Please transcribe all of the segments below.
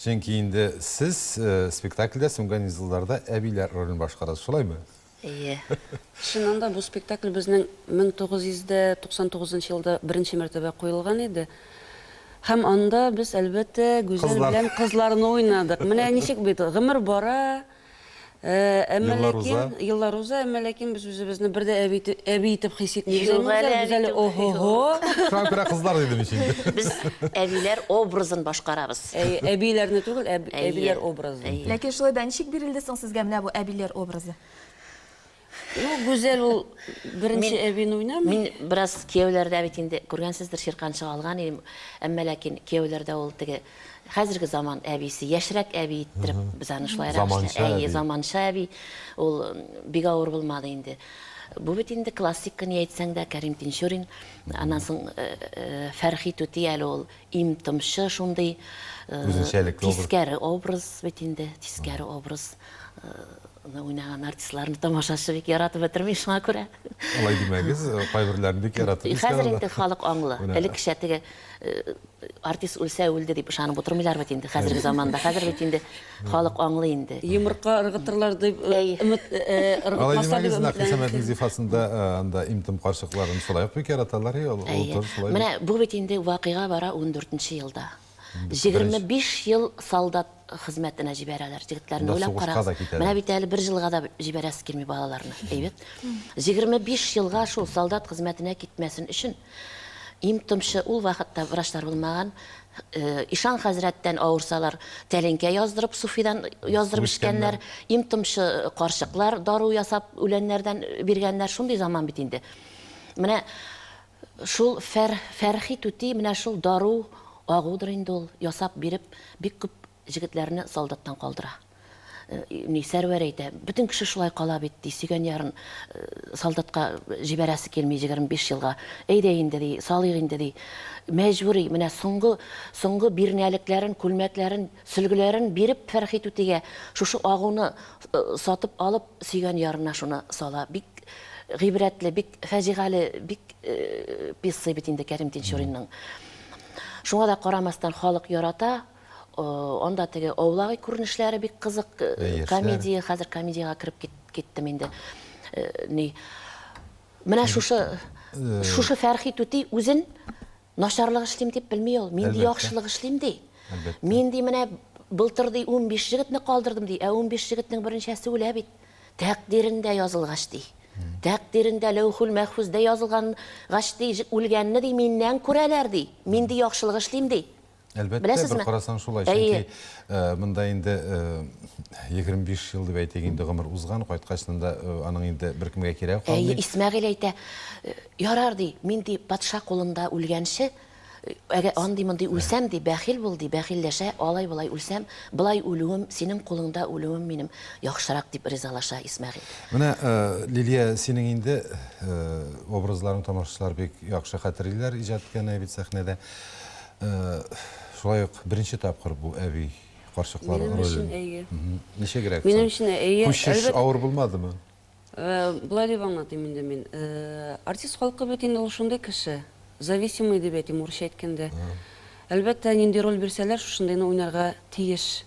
Чөнки инде сез спектакльдә Сүнгән йолдызларда әбиләр ролен башкарасыз, шулаймы? Әйе. Чыннан да, бу спектакль безнең 1999 нчы елда беренче мәртәбә куелган иде. Һәм анда без, әлбәттә, Гүзәл белән кызларны уйнадык. Менә ничек бит, гомер бара. Әмма ләкин еллар уза, әмма ләкин без үзебезне бер дә әби әби итеп хис итмибез. Без әле ого-го. Шуңа күрә кызлар дидем ич инде. Без әбиләр образын башкарабыз. Әбиләрне түгел, әбиләр образын. Ләкин шулай да ничек бирелде соң сезгә менә бу әбиләр образы? Ну, Гүзәл ул беренче әбин уйнамый. Мин бераз кияүләрдә бит инде күргәнсездер, чиркан чыга алган идем. Әмма ләкин кияүләрдә ул теге хәзерге заман әбисе, яшьрәк әби иттереп без аны шулайрак эшләдек. Заманча әби. Ул бик авыр булмады инде. Бу бит инде классика ни әйтсәң дә, Кәрим Тинчурин. Аннан соң Фәрхи түти әле ул им-томчы шундый. Үзенчәлекле образ. Тискәре образ бит инде, тискәре образ. Аны уйнаган артистларны тамашачы бик яратып бетерми, шуңа күрә. Алай димәгез, кайберләрен бик яратып. Хәзер инде халык аңлы. Элеккечә теге артист үлсә үлде дип ышанып утырмыйлар бит инде хәзерге заманда. Хәзер бит инде халык аңлы инде. Йомырка ыргытырлар дип өмет ыргытмаса дип. Алай димәгез, зифасында анда имтим карчыкларын шулай ук бик яраталар. Менә бу бит инде вакыйга бара 14 нче елда. 25 ел солдат хезмәтенә җибәрәләр җегетләрне. Уйлап карагыз. Менә бит әле бер җылга да җибәрәсе килми балаларны. Әйбәт. 25 елга шул солдат хезмәтенә китмәсен өчен им томчы ул вакытта врачлар булмаган. Ишан хәзрәттән авырсалар, тәлинкә яздырып, суфидан яздырып эчкәннәр. Им томчы карчыклар дару ясап үләннәрдән биргәннәр. Шундый заман бит инде. Менә Шул Фәр, Фәрхи түти менә шул дару, агудыр инде ул, ясап биреп, бик күп җегетләрне солдаттан калдыра. Ни, Сәрвәр әйтә, бөтен кеше шулай кала бит, ди, сөйгән ярын солдатка җибәрәсе килми җегерме биш елга. Әйдә инде, ди, салыйк инде, ди. Мәҗбүри, менә соңгы, соңгы бирнәлекләрен, күлмәкләрен, Сөлгеләрен биреп Фәрхи түтигә, шушы агуны сатып алып, сөйгән ярына шуны сала. Бик гыйбрәтле, бик фаҗигале, бик пьеса бит инде Кәрим Тинчуринның. Шуңа да карамастан халык ярата. Анда теге аулагый күренешләре бик кызык. Комедия, хәзер комедиягә кереп киттем инде. Менә шушы Фәрхи түти үзен Начарлык эшлим дип белми ул. Мин ди яхшылык эшлим ди. Мин ди менә былтыр ди 15 җегетне калдырдым ди, ә 15 җегетнең беренчәсе үлә бит. Тәкъдирендә язылгач ди. Тәкъдирендә ләүхүл мәхфүздә язылгангач ди, үлгәнне ди миннән күрәләр ди. Мин ди яхшылык эшлим ди. Әлбәттә, Беләсезме? бер карасаң шулай, чөнки э, монда инде 25 э, ел дип әйтик инде гомер узган, кайткач монда э, аның инде беркемгә кирәге калмый. Әйе, Исмәгыйль әйтә, ярар ди, мин ди патша кулында үлгәнче, әгәр андый мондый үлсәм ди, бәхил бул ди, бәхилләшә, алай болай үлсәм, былай үлүем, синең кулыңда үлүем минем яхшырак дип ризалаша Исмәгыйль. Менә Лилия, синең инде образларың тамашачылар бик яхшы хәтерлиләр иҗат иткәнне бит сәхнәдә. Шулай ук беренче тапкыр бу әби карчыклар ролен. Минем өчен әйе. Ничегрәк? Минем өчен әйе. Күчеш авыр булмадымы? Болай дип аңлатыйм инде мин. Артист халкы бит инде ул шундый кеше. Зависимый дип әйтим, урысча әйткәндә. Әлбәттә, нинди роль бирсәләр, шушындыйны уйнарга тиеш.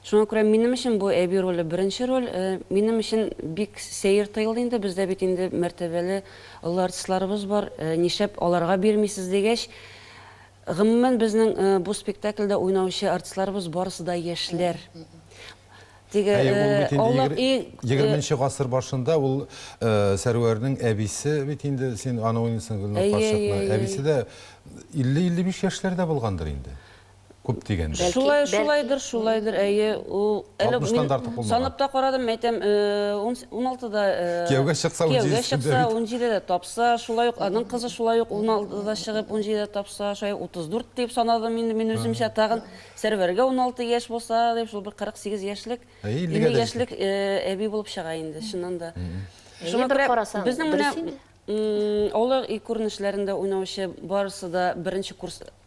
Шуңа күрә минем өчен бу әби роле беренче роль. Минем өчен бик сәер тоелды инде, бездә бит инде мәртәбәле, олы артистларыбыз бар, нишләп аларга бирмисез, дигәч, гомумән безнең бу спектакльдә уйнаучы артистларыбыз барысы да яшьләр. Теге Әйе, ул бит инде Аулак егер- өй егерменче гасыр башында ул Сәрвәрнең әбисе бит инде, син аны уйныйсың, Гөлнур Әйе, әйе, карчыкны. әйе, Әбисе әйе. дә илле-илле биш яшьләрдә булгандыр инде. Күп дигәндә. Бәлки, Шулай, бәлки. шулайдыр, шулайдыр, әйе. Ул әле 60 тан да артык булмаган. санап та карадым, мин әйтәм, э, ун с- уналтыда, э, Кияүгә чыкса, кияүгә унҗидесендә чыкса, бит. унҗидедә тапса, шулай ук аның кызы шулай ук уналтыда чыгып, унҗидедә тапса, шулай ук 34 дип санадым инде мин үземчә. Тагын Сәрвәргә уналты яшь булса, дип, шул бер 48 яшьлек, Ә, иллегә 50 дә яшьлек, э, әби булып чыга инде, чыннан да. Әйе, Шуңа бер күрә карасаң, безнең менә, дөрес инде. м, алар и күренешләрендә уйнаучы барысы да беренче курс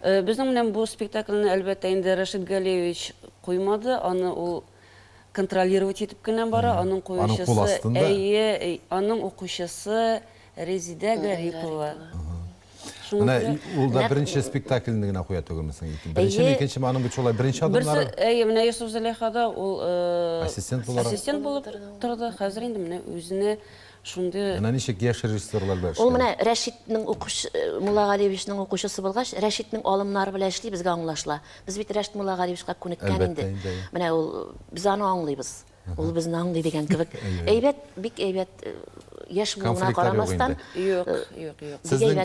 Безнең белән бу спектакльне, әлбәттә, инде Рәшит Галиевич куймады, аны ул контролировать итеп кенә бара, аның куючысы, әйе, аның укучысы Резидә Гарипова. Менә ул да беренче спектакльне генә куя түгелме соң? Беренчеме, икенчеме, аның бит шулай беренче адымнары? Әйе, менә Йосыф-Зөләйхада ул ассистент булып торды, хәзер инде менә үзенә Шундый. Менә ничек яшь режиссерлар белән эшләү. Ул менә Рәшитнең укучы, Муллагалиевичның укучысы булгач, Рәшитнең алымнары белән эшли, безгә аңлашыла. Без бит Рәшит Муллагалиевичка күнеккән инде. Әлбәттә инде, әйе. Менә ул, без аны аңлыйбыз. Ул безне аңлый дигән кебек. Әйбәт, бик әйбәт, яшь булуына карамастан. Юк, юк, юк. Сезнең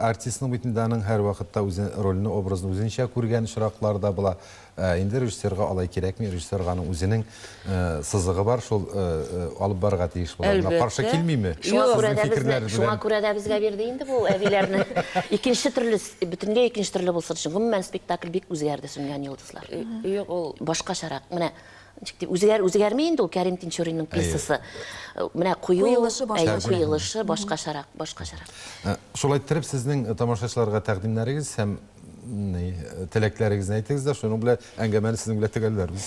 артистның бит инде аның һәрвакытта үзе рольне, образны үзенчә күргән очраклар да була. Ә инде режиссерга алай кирәкми, режиссерга аның үзенең сызыгы бар, шул алып барырга тиеш була. Менә каршы килмиме? Шуңа күрә дә безне, шуңа күрә дә безгә бирде инде бу әбиләрне. Икенче төрле, бөтенләй икенче төрле булсын өчен. Гомумән, спектакль бик үзгәрде, Сүнгән йолдызлар. Юк, ул башкачарак. Менә ничек дип, үзгәр, үзгәрми инде ул Кәрим Тинчуринның пьесасы. Менә кую, Куелышы башкачарак. Әйе, куелышы башкачарак, башкачарак. Шулай иттереп, сезнең тамашачыларга тәкъдимнәрегез һәм Ни, теләкләрегезне әйтегез дә, шуның белән әңгәмәне сезнең белән төгәлләрбез.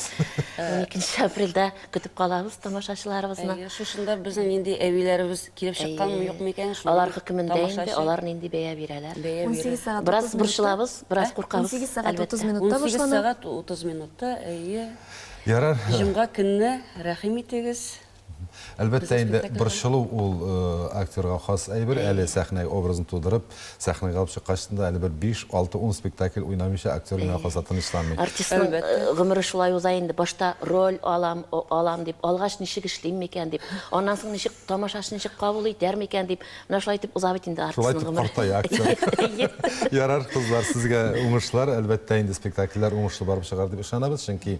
12 апрельдә көтеп калабыз тамашачыларыбызны. Әйе, шушында безнең нинди әбиләребез килеп чыкканмы, юкмы икән? Алар хөкемендә инде, алар нинди бәя бирәләр. Бәя бирәләр. Бераз борчылабыз, бераз куркабыз. 18 сәгать 30 минутта башлана. 18 сәгать 30 минутта, әйе. Ярар. Җомга көнне рәхим итегез. Әлбәттә инде, борчылу ул актерга хас әйбер, әле сәхнә образын тудырып, сәхнәгә алып чыккач да, әле бер биш, алты, ун спектакль уйнамыйча актер генә калса тынычланмый. Артистның гомере шулай уза инде, башта роль алам, алам дип, алгач ничек эшлим микән дип, аннан соң ничек, тамашачы ничек кабул итәр микән дип, менә шулай итеп уза бит инде артистның гомере. Шулай итеп картая актер. Ярар, кызлар, сезгә уңышлар, әлбәттә инде спектакльләр уңышлы барып чыгар дип ышанабыз, чөнки